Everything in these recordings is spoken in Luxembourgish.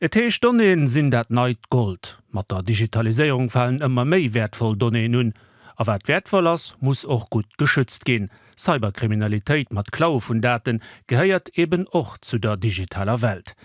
Et heescht, Donnéeën sinn dat neit Gold. Mat der Digitaliséierung falen ëmmer méi wäertvoll Donnéeën un. A wat wäertvoll ass, muss och gutt geschützt ginn. Cyberkriminalitéit mat Klaue vun Date gehéiert eben och zu der digitaler Welt.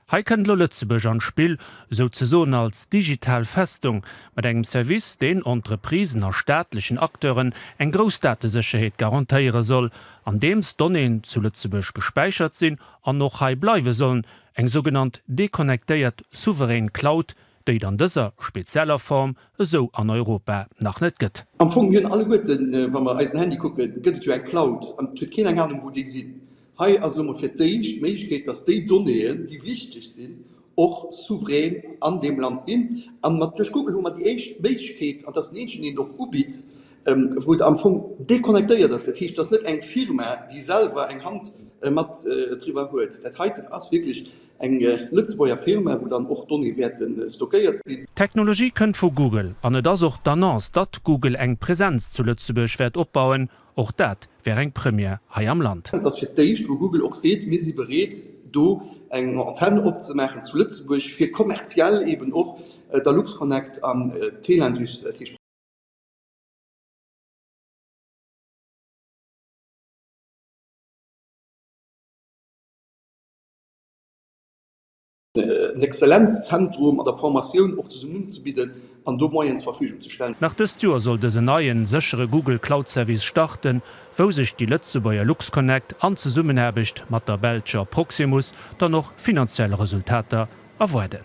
Hei kënnt elo Lëtzebuerg an d'Spill, souzesoen als digital Festung, mat engem Service, deen Entreprisen a staatlechen Acteuren eng grouss Datesécherheet garantéiere soll, andeems Donnéeën zu Lëtzebuerg gespäichert sinn an och hei bleiwe sollen, Eng sougenannt deconnectéiert souverän Cloud, déi et an dëser spezieller Form esou an Europa nach net gëtt. Am Fong hunn alleguerten, wa mer eisen Handy kucken, gëtt et jo eng Cloud an et huet keen eng Anung, wou déi sinn. Hei ass elo mol fir d'éischt d'Méiglechkeet, dass déi Donnéeën, déi wichteg sinn, och souverän an deem Land sinn. An mat duerch Google hu mer déi éischt Méiglechkeet, an et ass den eenzegen, deen et och ubitt, wou et am Fong déconnectéiert ass, dat heescht, et ass net eng Firma, déi selwer eng Hand mat driwwer huet. Dat heiten ass wierklech eng Lëtzebuerger Firma, wou dann och d'Donnéeë wäerte stockéiert sinn. D'Technologie kënnt vu Google an et ass och d'Annonce, datt Google eng Presenz zu Lëtzebuerg wäert opbauen. Och dat wär eng Première hei am Land. Et ass fir d'éischt, wou Google och seet, mir si bereet, do eng Antenn opzemaachen zu Lëtzebuerg, fir kommerziell eeben och der Luxconnect an d'Telindus, dat heescht. en Exzellenzzentrum an der Formatioun och zesummen unzebidden an do Moyenen zur Verfügung ze stellen. Nach dëst Joer soll dësen neien, séchere Google Cloud Service starten, wou sech déi Lëtzebuerger LuxConnect an Zesummenaarbecht mat der belscher Proximus dann och finanziell Resultater erwaarden.